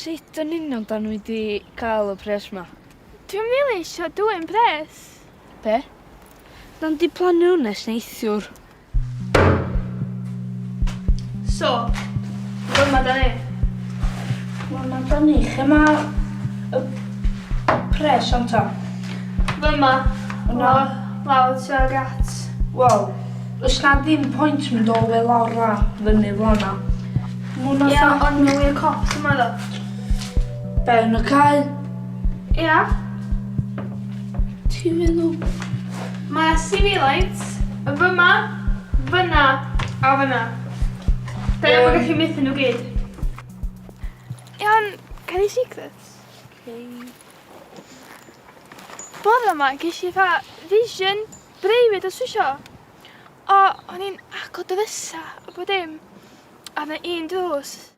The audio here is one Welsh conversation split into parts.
Sut yn union da nhw wedi cael y pres yma? Dwi'n rili eisiau dwyn pres. Be? Nawn di plannu hwn nes neithiwr. So, dyma da ni. Wel, mae da ni. Lle mae y pres o'n ta? Dyma. Yna. Lawr tuag at. Wel, os na ddim pwynt mynd o fel lawr a fyny fel yna. Ie, ond nhw i'r cop yma ddo. Be, yn y cael? Ia. Ti'n meddwl? Mae sibilaint fyma, fyna a fyna. Da iawn bod gallu mythu nhw gyd. Iawn, can i secrets? Okay. Bore yma, ges i fa vision breifyd os wisio. O, o'n i'n agor dy fysa, a bod dim. A na un drws.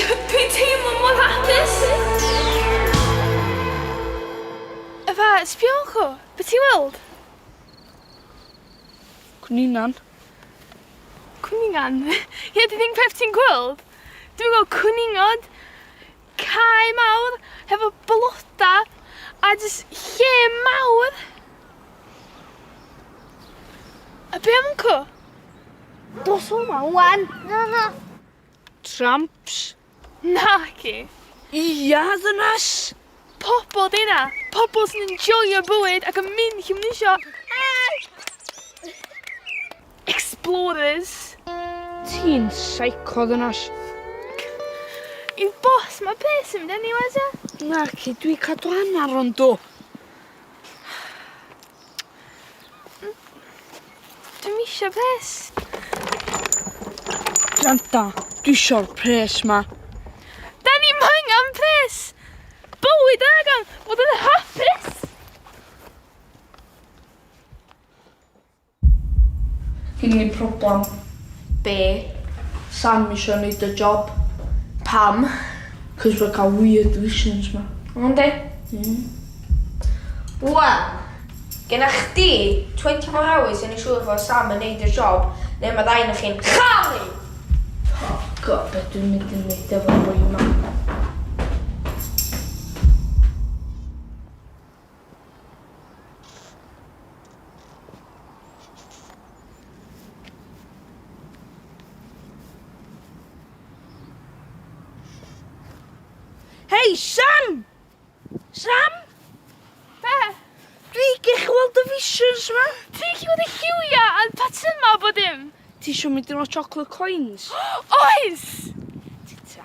Dwi'n teimlo mor hapus! Efa, sbio Uncle! Be' ti'n weld? Cwningan. Cwningan? Ie, dwi ddim peth ti'n gweld. Dwi'n gweld cwningod, cae mawr, hefo bloda, a jyst lle mawr. A be' am Uncle? Dos o ma ŵan! Na, na. Tramps? Naci! Ia, ddynas! Pobl 'di hynna! Pobl sy'n enjoio bywyd ac yn mynd lle maen nhw isio! Explorers! Ti'n psycho, ddynas. Yw boss ma peth sy'n mynd anywhere ta? Naci, dwi cadw hannar o'n do. Dwi'm isio pres. Granda, dwi isio'r pres ma. Da ni angen pres! Bywyd angen bod yn hapus! Gyn ni problem. Be? Sam isio neud y job. Pam? Cos fe cael weird visions ma. Yndi. Hmm. Wel, genna chdi 24 hours i neu' siŵr fo Sam yn neud y job ne' ma ddau o'noch chi'n chau! O God, be' dwi'n mynd i neud efo boi 'ma? Hei, Sam! Sam? Be? Dwi gech i weld y visions ma. Ti chi fod y lliwia a'r patyma bod dim? Ti isio mynd i'r chocolate coins? Oes! Tita.